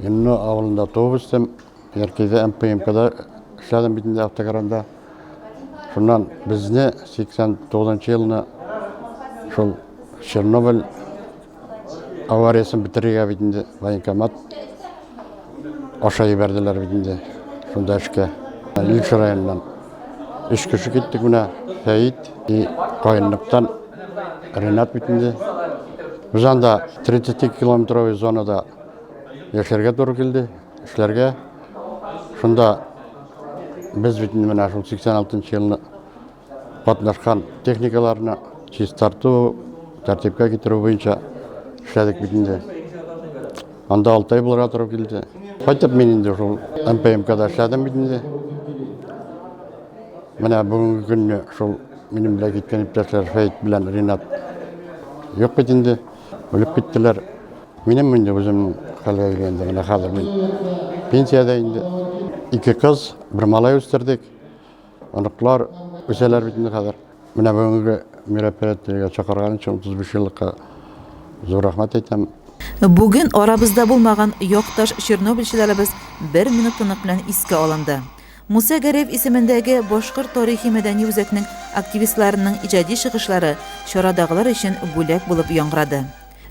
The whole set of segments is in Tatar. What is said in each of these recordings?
Ленно авылында туып үстем. Яркәйдә МПМКда эшләдем бит инде автокранында. Шуннан безне 89 елны шул Чернобыль авариясен бетерергә бит инде военкомат аша ебәрделәр бит инде шунда эшкә. Илеш районыннан. Өч кеше киттек менә, Фәит и каенлыктан Ренат бит инде. Без анда 32 километровый зонада яшәргә туры килде, эшләргә. Шунда без бит инде менә шул 86 елны катнашкан техникаларны чистарту, тәртипкә китерү буенча эшләдек бит инде. Анда алтай булырга туры килде. Кайтып мин инде шул МПМКда эшләдем бит инде. Менә бүгенге көнне шул минем белән киткән иптәшләр Фәйт белән Ринат юк бит инде. Үлеп киттеләр. Минем инде үзем хәлгә килгәндә генә хәзер мин пенсиядә инде. Ике кыз, бер малай үстердек. Оныклар үсәләр бит инде хәзер. Менә бүгенге мероприятиегә чакырган өчен 35 еллыкка зур рәхмәт әйтәм. Бүген арабызда булмаган якташ чернобыльчыларыбыз бер минут тынлык белән искә алынды. Муса Гәрәев исемендәге Башкорт тарихи-мәдәни үзәкнең активистларының иҗади чыгышлары чарадагылар өчен бүләк булып яңгырады.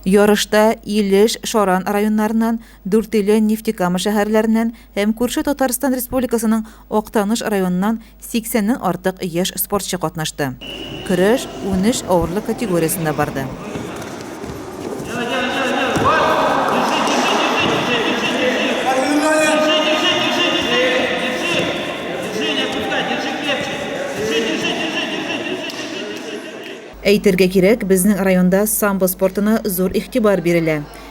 Ярышта Илеш, Шаран районнарыннан, Дүртөйле, Нефтекама шәһәрләреннән һәм күрше Татарстан Республикасының Актаныш районыннан 80 ннән артык яшь спортчы катнашты. Көрәш унөч авырлык категориясендә барды. Әйтергә кирәк, безнең районда самбо спортына зур игътибар бирелә.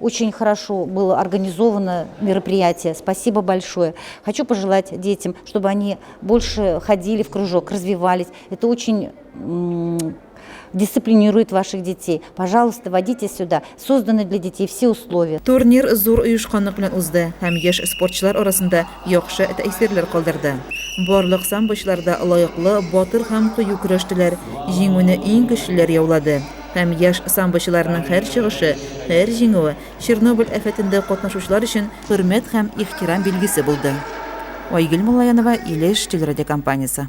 Очень хорошо было организовано мероприятие. Спасибо большое. Хочу пожелать детям, чтобы они больше ходили в кружок, развивались. Это очень дисциплинирует ваших детей. Пожалуйста, водите сюда. Созданы для детей все условия. Турнир зур оешканлык белән узды һәм яшь спортчылар арасында яхшы тәэсирләр калдырды. Барлык самбочларда лаеклы, батыр һәм кыю көрәштеләр. Җиңүне иң көчлеләр яулады. Һәм яшь самбочыларның һәр чыгышы, һәр җиңүе Чернобыль афәтендә катнашучылар өчен хөрмәт һәм ихтирам билгесе булды. Айгөл Муллаянова, Илеш телерадиокомпаниясе.